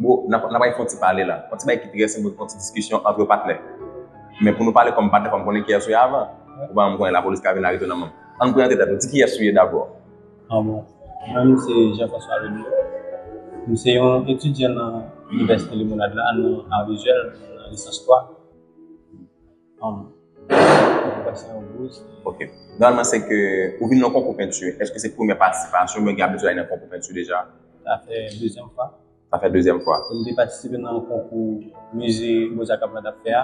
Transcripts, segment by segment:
Bro, n ap bay fon ti pale la. Fon ti bagay ki trè senp, fon ti diskisyon antre patnè. Men pou nou pale kòm patnè fò m konnen kiyès ou ye avan. Ou pa janm konnen lapolis ka vin arete w nan menm. Ann prezante tèt nou. Di kiyès ou ye dabò. Ah bon. Mwen menm se Jean François Loulier. M se yon etidyan nan Inivèsite Limonad la nan Ar Vizyèl, nan lisans 3. Nòmalman se ke ou vin nan konkou penti, eske se premye patisipasyon ou byen gen abitid ale nan konkou penti deja? Sa fè dezyèm fwa. Sa fè dezyèm fwa. Mwen te patisipe nan konkou mize Boza Kap la tap fè a.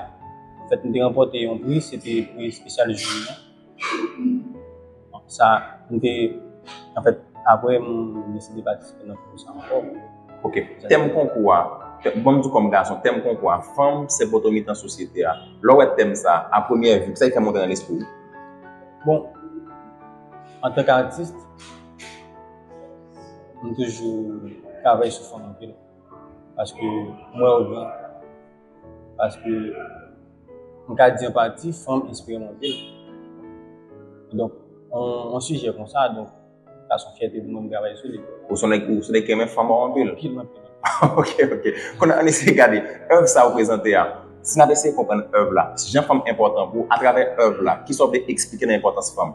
An fèt mwen te ranpòte yon pri, se te pri espesyal jounen an. Sa, m te, anfèt, apre m deside patisipe nan konkou sa ankò. Ok. Tèm konkou a, bon m di kòm gason, tèm konkou a, Fanm se poto mitan sosyete a. Lè w wè tèm sa, a premyè vi, kisa ki fè monte nan lespri w? Bon, antank atis, m toujou travay sou fanm anpil. Paske m wè yo gran. Paske, m ka di an pati, fanm espere monte l. Donk, yon sijè konsa, donk, sa son fyète pou mwen m travay sou li. Ou son nèg, ou son nèg ki renmen fanm ou anpil? Anpil, anpil. Ok, ok. Kounye a, ann eseye gade èv sa ou prezante a. Si n ap eseye konprann èv la, jan fanm enpòtan pou ou, atravè èv la, ki sa ou vle eksplike nan enpòtans fanm?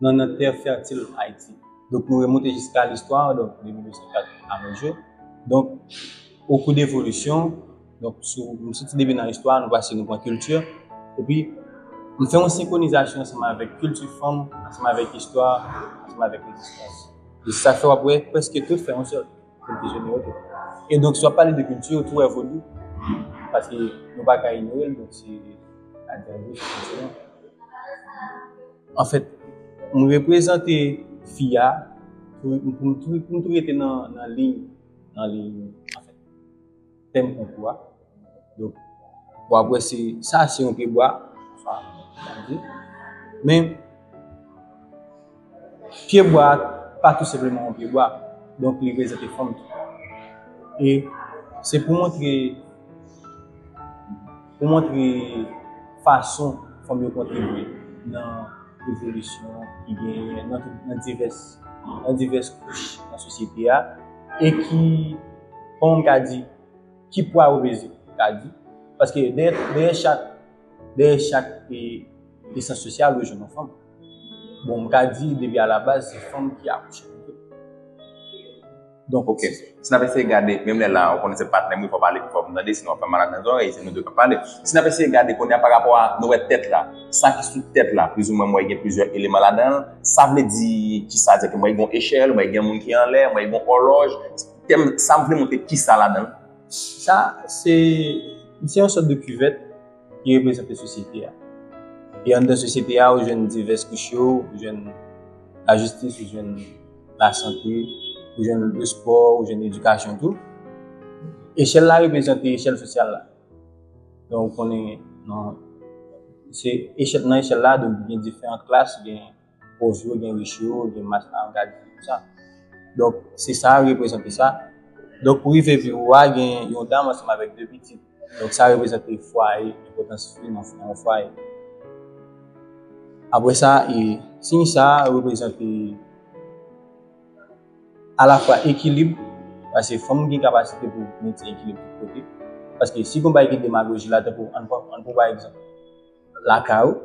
nan nan tè fètil Ayiti. Donk nou remonte jiska listwa, donk de 1904 a nos jours. Donk, o kou de volisyon, donk sou nou soti depi nan istwa, nou pase nou pran kilti, epi nou fè yon senkwonizasyon ansanm avèk kilti fanm, ansanm avèk istwa, ansanm avèk rezistans. E sa fè w ap wè prèske tout fè yon sèl. Moun ki jene yo tou. E donk si w ap pale de kilti yo tou wè vodou. Paske nou pa ka inyore l donk se ladan yo kilti nou. Anfèt m reprezante fi a pou m tou rete nan liy anfèt. Pèm konkou a. Donk, w ap wè se, sa se yon pyebwa. Sa, gade. Men, pyebwa a pa tou senpleman yon pyebwa. Donk, li prezante fòm tou. E, se pou montre. Pou montre fason fanm yo kontribye nan evolisyon ki genyen nan divès kouch nan sosyete a, e ki, kòman m ka di, ki pwa yo peze, m ka di. Paske dèyè chak, dèyè chak esans sosyal ou jwenn yon fanm. Bon, m ka di depi alabaz se fanm ki akouche pito. Donk ok, si n ap eseye gade, menm lè la ou konnen se patnè m wi fò w pale pi fò pou m tande sinon w ap fè m mal ak nan zòrèy, se nou 2 k ap pale. Si n ap eseye gade kounye a parapò a nou wè tèt la, sa ki sou tèt la plizoumwen m wè gen plizyè eleman ladan l, sa vle di ki sa egzakteman? M wè gen yon echèl, m wè gen yon moun ki anlè, m wè gen yon òlòj, tèm sa vle montre ki sa ladan l? Sa se, li se yon sòt de kivèt. ki reprezante sosyete a. E anndan sosyete a, ou jwenn divès kouch yo, ou jwenn la jistis, ou jwenn la sante, ou jwenn le spò, ou jwenn edikasyon tou. Echèl la reprezante echèl sosyal la. Don ou konnen nan echèl la, don gen diferan klas, gen... pòz yo, gen rich yo, gen mas la an gade tout sa. Donk, se sa a reprezante sa. Donk, pou rive viv ou a, gen yon dam ansanm avèk de pitit. Donk, sa reprezante fwaye, enpòtans fi nan yon fwaye. Apre sa, e siy sa a reprezante alafwa ekilib, pase fanm gen kapasite pou mentyen ekilib tout kote. Paske si gon bay gen demagoji la, tankou an pran pa egzanp. lakay ou,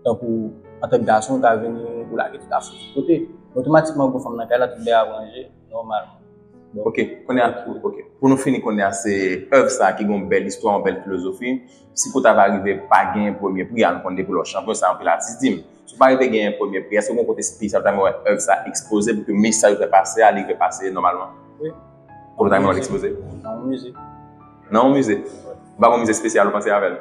tankou antank gason ou ka vini ou lage tout afou sou kote, otomatikman ou gen fanm nan kay la tout bagay ap ranje nòmalman. Ok, kounye a, ok, pou nou fini kounye a se èv sa ki gen yon bèl istwa, yon bèl filozofi, si kou ta va rive pa gen premye pri a, nou konnen depi lè w chanpyon sa anpil atis di m, si w pa rive gen premye pri a, èske gen yon kote espesyal ou ta renmen wè èv sa ekspoze pou ke mesaj ou fè pase a li rive pase nòmalman? Wi. Kote w ta renmen wè l ekspoze? Nan yon mize. Nan yon mize? Ou pa gen yon mize espesyal ou panse avè l?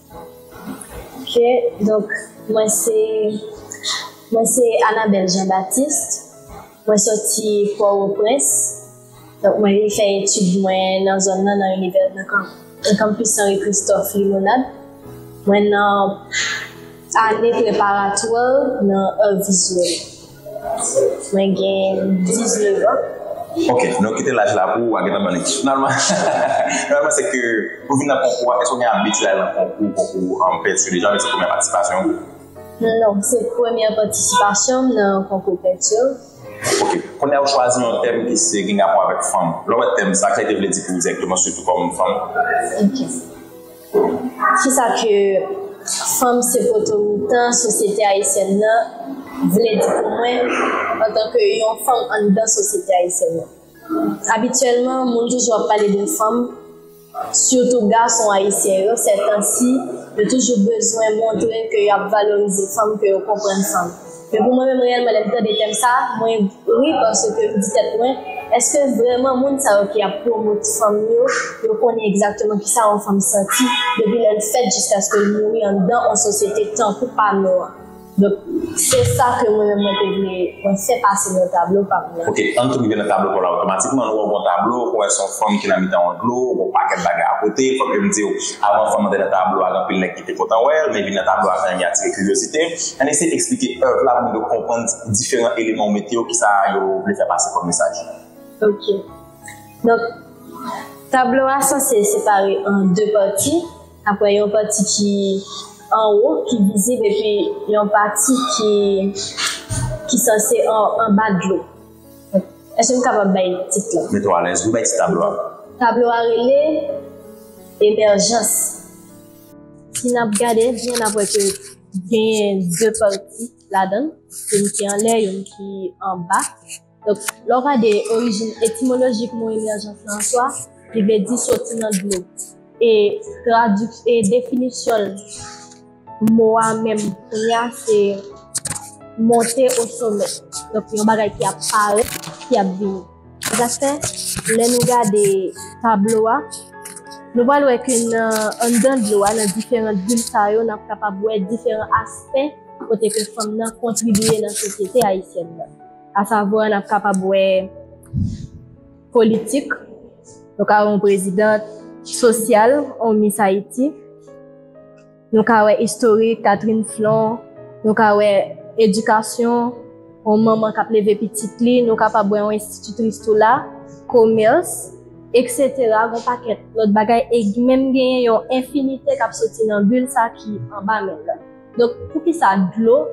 Ok donk mwen se mwen se Anabel Jean Baptiste mwen soti Port-au-Prince donk mwen vin fè etid mwen nan zòn nan nan inivè nan kan nan campus Henri Christophe Limonade mwen nan ane preparatwa nan Art Visuel. Mwen gen 19 ans. Ok, nou kite laj la pou wa gentan ban li. Finalman, finalman se ke pou vin nan konkou a, eske ou gen abitid al nan konkou, konkou an pèdi yo deja oubyen se premyè patisipasyon ou? Non, se premyè patisipasyon m nan konkou pèdi yo. Ok, kounye a ou chwazi yon tèm ki se gen rapò avèk fanm. Lè ou wè tèm sa, kisa li te vle di pou ou dirèkteman sitou kòm fanm? Ok. Kisa ke fanm se poto mitan sosyete ayisyèn nan vle di pou mwen antanke yon fanm anndan sosyete ayisyèn nan? Abityèlman moun toujou ap pale de fanm, sitou gason ayisyen yo sètansi yo toujou bezwen montre ke yo ap valorize fanm, ke yo konprann fanm. Men pou mwen menm reyèlman lèm tande tèm sa mwen ri paske m di tèt mwen eske vrèman moun sa yo ki ap pwomot fanm yo yo konnen egzakteman kisa yon fanm santi depi lèl fèt jiskaske l mouri anndan yon sosyete tankou pa nou an donk se sa ke mwen menm mwen te vle mwen fè pase nan tablo pa m nan. Ok ann tou rive nan tablo pa w la otomatikman nou wè w gon tablo ou wè son fanm ki nan mitan yon dlo gon pakèt bagay akote fòk yo m diw avan fanm nan te nan tablo a gen anpil nèg Mwen te kontan wè l, men vin nan tablo a fè anyen atire kiryozite m. Ann eseye eksplike èv la pou m rive konprann diferan eleman ou mete yo, ki sa yo vle fè pase kòm mesaj. Ok. Donk, tablo a sanse separe an de pati, apre yon pati ki anwo, ki vizib epi yon pati ki ki sanse anba dlo. Èske m kapab bay tit la? Mete w alèz wi, bay tit tablo a. Tablo a rele Emèjans. Si n ap gade byen n ap wè ke genyen de pati ladan l, youn ki anlè, youn ki anba. Donk, lè w gade orijin etimolojik mo emèjans lan an swa, li vle di soti nan dlo. E tradik, e definisyon l, mo a menm kounye a se monte osomè. Donk, yon bagay ki ap parèt, ki ap vini. Sa sak fè, lè nou gade tablo a, nou pral wè ke nan anndan dlo a, nan diferant vil sa yo, nap kapab wè diferan aspè kote ke fanm nan kontribiye nan sosyete ayisyèn nan. Asavwa, nap kapab wè politik, nou ka wè yon prezidant, sosyal, yon mis Ayiti. Nou ka wè istorik Catherine Flon, nou ka wè edikasyon, yon manman k ap leve pitit li, nou kapab wè yon enstititris tou la, komès, eksetera, yon pakèt lòt bagay e menm genyen yon enfinite k ap soti nan bil sa ki anba men l lan. Donk, poukisa dlo?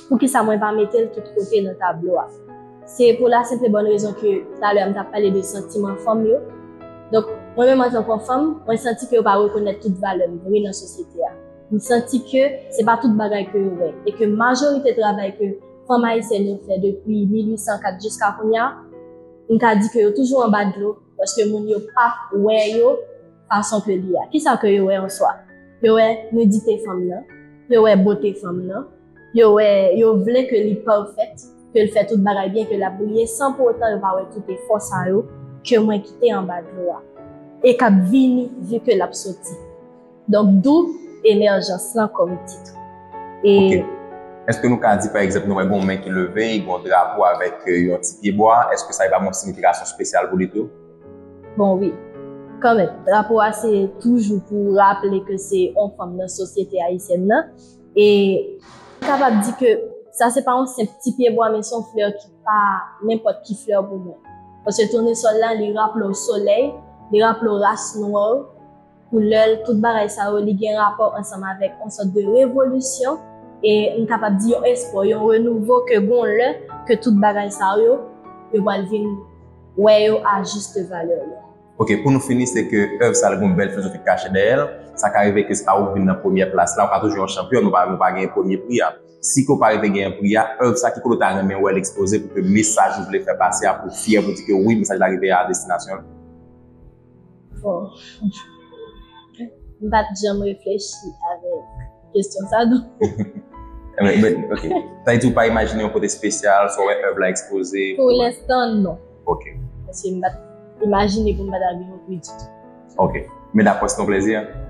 Poukisa mwen pa metel tout kote nan tablo a? Se pou la senp e bòn rezon ke talè a m tap pale de santiman fanm yo. Donk, mwen menm antanke fanm, mwen santi ke yo pa rekonèt tout valè m vre nan sosyete a. M santi ke se pa tout bagay ke yo wè e ke majorite travay ke fanm ayisyèn yo fè depi 1804 jiska kounya, m ka di ke yo toujou anba dlo paske moun yo pa wè yo. fason ke li a. Kisa ke yo wè an swa? Yo wè nidite fanm nan, yo wè bote fanm nan, yo wè, yo vle ke li pèfèt, ke l fè tout bagay byen, ke l ap briye, san pou otan yo pa wè tout efò sa yo ke mwen kite anba dlo a, e k ap vini vi ke l ap soti. Donk dou emèjans lan kòm tit. E. Eske nou ka di pa egzanp nou wè gen yon men ki leve, gen yon drapo avèk yon ti pye bwa, eske sa li pa gen yon siyifikasyon spesyal pou li tou? Bon wi, kanmenm, drapo a se toujou pou raple ke se yon fanm nan sosyete ayisyèn nan, e m kapab di ke sa se pa yon senp ti pyebwa men se yon flè ki pa nenpòt ki flè pou mwen. Paske tonesòl la li raple w solèy, li raple w ras nwè w. koulè l, tout bagay sa yo li gen rapò ansanm avèk yon sòt de revolisyon e m kapab di yon espò, yon renouvo ke gon lè ke tout bagay sa yo, yo pral vin wè yo a juste valeur yo. Ok, pou nou fini se ke èv sa li gon bèl filozofi ki kache dèyè l, sa ka rive ke se pa ou ki vin nan premyè plas la, ou ka toujou yon chanpyon, nou pa nou pa genyen premye pri a. Si ke ou pa rive genyen pri a, èv sa ki kote ou ta renmen wè l ekspoze pou ke mesaj ou vle fè pase a pou w fyè pou w di ke wi mesaj la rive a destinasyon l? M pa t janm reflechi avèk kesyon sa do. Ok. Sa di ou pa imajine yon kote spesyal, sa wè èv la ekspoze? Pou lenstan, non. Ok. Paske m pa t imajine pou m pa t al vin yon pui ditou. Ok. Men dapò se yon plezi a?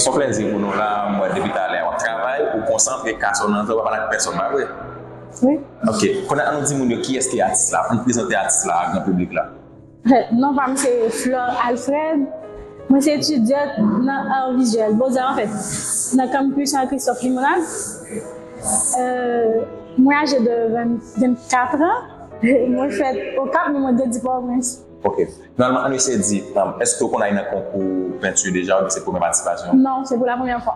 Son plèzi pou nou la, m wè depi talè a wap travay, ou konsantre, kas ou nan zè, ou pa pale ak pèsòn pa vre? Wi. Ok, kounye a an nou di moun yo kiyès ki atis la, an nou prezante atis la a gran piblik la. Non pa m se Flore Alfred, mwen se etidyant nan Art Visuel, Beaux Arts an fèt, nan Campus Henri Christophe Limonad. Mwen aje de 24 ans, mwen fèt Okap men mwen grandi Port-au-Prince. Ok. Finalman, ann eseye di, èske ou konn ale nan konkou penti deja oubyen se premye patisipasyon ou? Non, se pou la premyè fwa.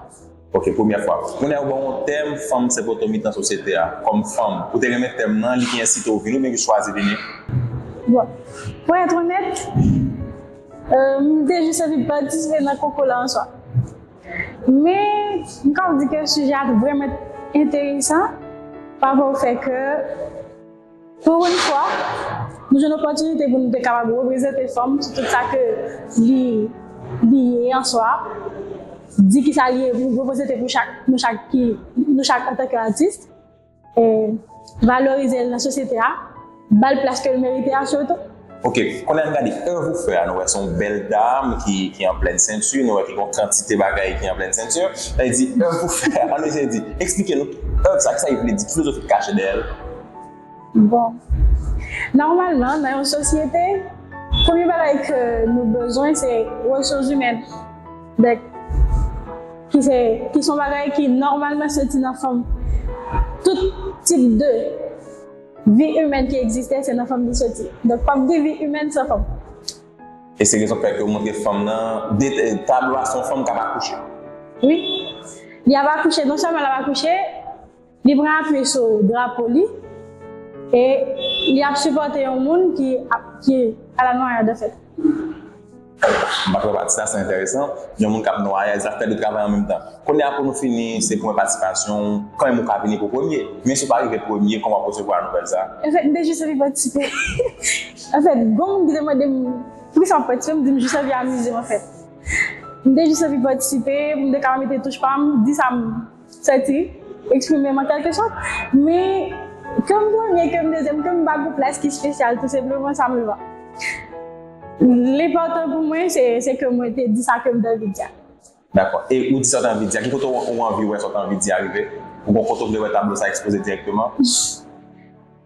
Ok, premyè fwa. Kounye a ou ban yon tèm Fanm se poto mitan sosyete a. Kòm fanm, ou te renmen tèm nan, li ki ensite ou vini oubyen ki chwazi vini? Bon, pou èt onèt, m te jis anvi patisipe nan konkou la an swa. Men, m kab di ke sijè a te vrèman enteresan, pa pou fè ke. Pou yn fwa, nou jwenn opòtinite pou nou te kapab reprezante fanm sou tout sa ke li li ye an swa, di kisa li ye, reprezante pou chak nou chak ki nou chak an tan ke atis, valorize l nan sosyete a, ba l plas ke l merite a sitou. Ok kounye a n gade èv ou fè a nou wè se yon bèl dam ki ki an plèn senti nou wè ki gon kantite bagay ki an plèn senti lè li di èv ou fè a an nou eseye di eksplike nou èv sa kisa li vle di ki filozofi ki kache dèyè l. Bon nòmalman nan yon sosyete premye bagay ke nou bezwen se resouzimèn dèk ki se ki son bagay ki nòmalman soti nan fanm tout tip de. Vi imèn ki egziste se nan fanm li soti. Donk p ap gen vi imèn san fanm. E se rezon k fè ke yo montre fanm nan dete tablo a se yon fanm k ap akouche. Wi. Li ap akouche, non sèlman l ap akouche, li pran apui sou drapo li e li ap sipòte yon moun ki ap, ki alanwayad anfèt. Bravo pati sa se enteresan. Yon moun kap nwaye a zafè de travay an menm tan. Kounye a pou nou fini se pwen patisipasyon w kan menm ou ka vini pou premye. Men si w pa rive premye kòman w ap resevwa nouvèl sa? Anfèt m te jis anvi patisipe. Anfèt gon moun ki te mande m poukisa map patisipe m di m jis anvi amize m anfèt. M te jis anvi patisipe pou m te ka mete touch pa m, di sa m. Sa te eksprime m an kèlke sòt, men ke m premye, ke m dezyèm, ke m pa gwoup la, ski spesyal, tou senpleman sa m va. L enpòtan pou mwen se ke mwen te di sa ke m te anvi di a. Dakò. E ou di sa w te anvi di a, ki kote ou anvi wè sa w te anvi di a rive? Ou gen yon kote ou vle wè tablo sa ekspoze dirèkteman?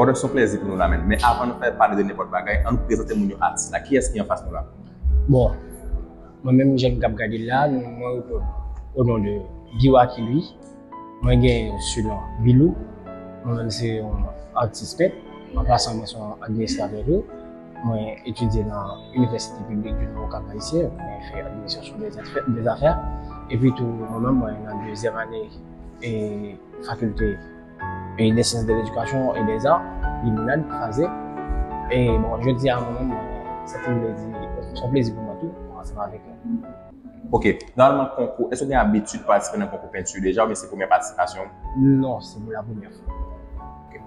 Brother son plèzi pou nou la menn men avan nou fè pale de nenpòt bagay annou prezante moun yo atis la kiyès ki anfas nou la. Bon mwen menm jem kap gadel la mwen repon o non de Guiwacky Louis mwen gen su non Bilou mwen menm se yon atis pent an pasan mwen son administratè tou mwen etidye nan inivèsite piblik du nord cap haïtien mwen fè administration des affaires epi tou mwen menm mwen nan dezyèm ane e fakilte e de syans de ledikasyon e de zan limonad kraze e bon jodi a mwen se pou mwen di son plezi pou mwen tou ansanm avèk nou Ok, nòmalman konkou, èske gen abitid patisipe nan konkou penti deja oubyen se premyè patisipasyon ou? Non, se pou la premyè fwa.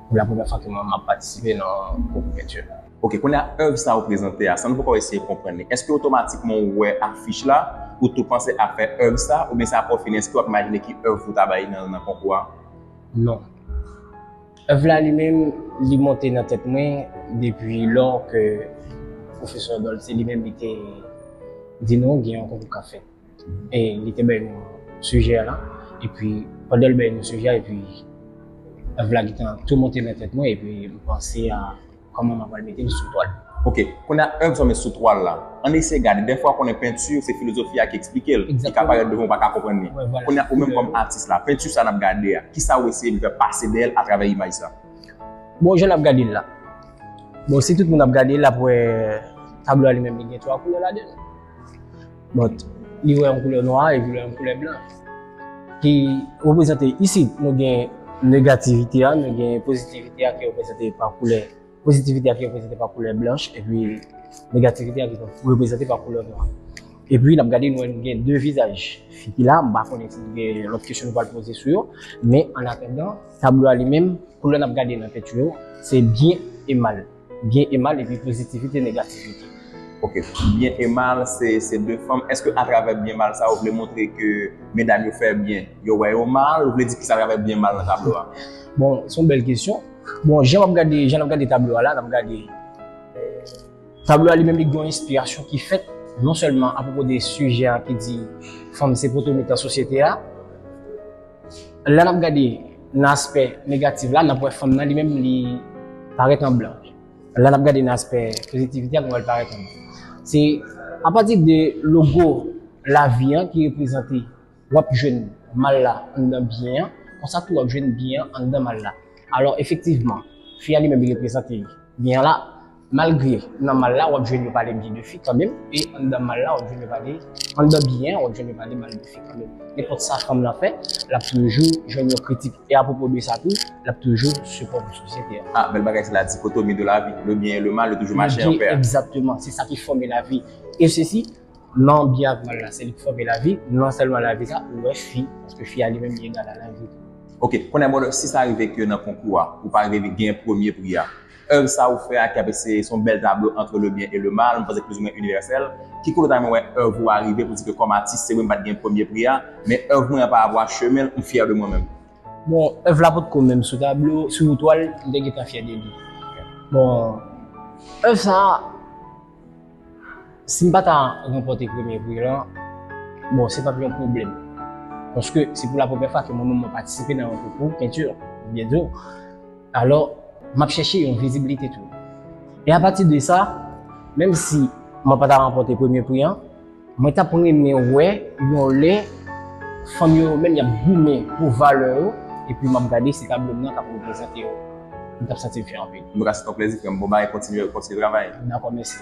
Pou la premyè fwa ke mwen map patisipe nan konkou penti. Ok, kounye a èv sa ou prezante a, san nou poko eseye konprann li, èske otomatikman ou wè afich la, ou tou panse a fè èv sa, oubyen se apre ou fini èske wap imajine ki èv pou ta bay nan konkou a? Non. Èv la li menm li monte nan tèt mwen depi lò ke Pwofesè Dolce li menm li te di nou gen yon konkou kap fèt. E li te bay nou sijè a, epi pandan li bay nou sijè a epi èv la gentan tou monte nan tèt mwen epi m panse a. Kòman mwen pral mete l sou twal? Ok, kounye a èv sa w met sou twal la, ann eseye gade. Dèfwa konnen penti se filozofi a ki eksplike l, li ka parèt devan w pa ka konprann li. Kounye a ou menm kòm atis la, penti sa n ap gade a, kisa ou eseye vin fè pase dèyè l atravè imaj sa? Bon, jan n ap gade l la, bon si tout moun ap gade l l ap wè tablo a li menm li gen twa koulè ladan l. But, li wè yon koulè nwa e li wè yon koulè blan. Ki reprezante isi, nou gen negativite a, nou gen pozitivite a ki reprezante pa koulè, pozitivite a ki reprezante pa koulè blanch, e pi negativite a ki reprezante pa koulè nwa. E pi, nap gade nou wè nou gen 2 vizaj. Fi ki la, m pa konnen si nou gen lòt kesyon nou pral poze sou yo, men an atandan, tablo a li menm, koulè nap gade nan penti yo, se byen e mal. Byen e mal epi pozitivite negativite. Ok byen e mal se se 2 fanm eske atravè byen mal sa ou vle montre ke medam yo fè byen yo wè yo mal ou vle di kisa atravè byen mal nan tablo a? Bon son bèl kesyon bon jan map gade jan nap gade tablo a la nap gade tablo a li menm li gen yon enspirasyon ki fèt non sèlman apwopo de sijè a ki di fanm se poto mitan sosyete a. Lè n ap gade nan aspè negatif la, n ap wè fanm nan li menm li parèt an blan. Lè n ap gade nan aspè pozitivite a, nou wè l parèt an blan. Se apati de logo lavi an ki reprezante, w ap jwenn mal la anndan byen an, konsa tou w ap jwenn byen an anndan mal la. Alò efektivman, fi a li menm li reprezante byen an la, Malgre nan mal la wap jwenn yo pale byen de fi kanmenm e anndan mal la wap jwenn yo pale anndan byen an wap jwenn yo pale mal de fi kanmenm. Nenpòt sa fanm lan fè, lap toujou jwenn yon kritik. E apwopo de sa tou, lap toujou sipò pou sosyete a. Ah bèl bagay se la dichotomie de la vie, le bien et le mal yo toujou mache an pè. Exactement, se sa ki fòme la vie. E sesi, nan byen ak mal la, se li ki fòme la vie, nan sèlman la vie sa, ou wè fi, paske fi a li menm li egal a la vie. Ok, kounye a brother, si sa rive ke nan konkou a, ou pa rive vin gen premye pri a, Èv sa ou fè a ki ap eseye son bèl tablo antre le byen e le mal, m panse k plizoumwen inivèsèl. Ki kote w ta renmen wè èv ou a rive pou di ke kòm atis se wi m pa t gen premye pri a, men èv mwen an pa avwa chemen l, m fyè de mwen menm. Bon, èv la potko menm sou tablo, sou twal, m te gentan fyè de li. Bon, èv sa a. Si m pa ta ranpòte premye pri lan, bon se pap yon pwoblèm. Paske se pou la premyè fwa ke mwen menm mwen patisipe nan yon konkou penti, m byen di w. Alò, m ap chèche yon vizibilite tou. E apati de sa, menm si mwen pa ta ranpòte premye pri an, Mwen tap renmen wè yon lè fanm yo yo menm yap goumen pou valè yo epi map gade se tablo m nan kap reprezante yo m tap santim fè anpil. Antuka se t yon plezi frèm bon bagay kontinye kontinye travay. Dakò mèsi.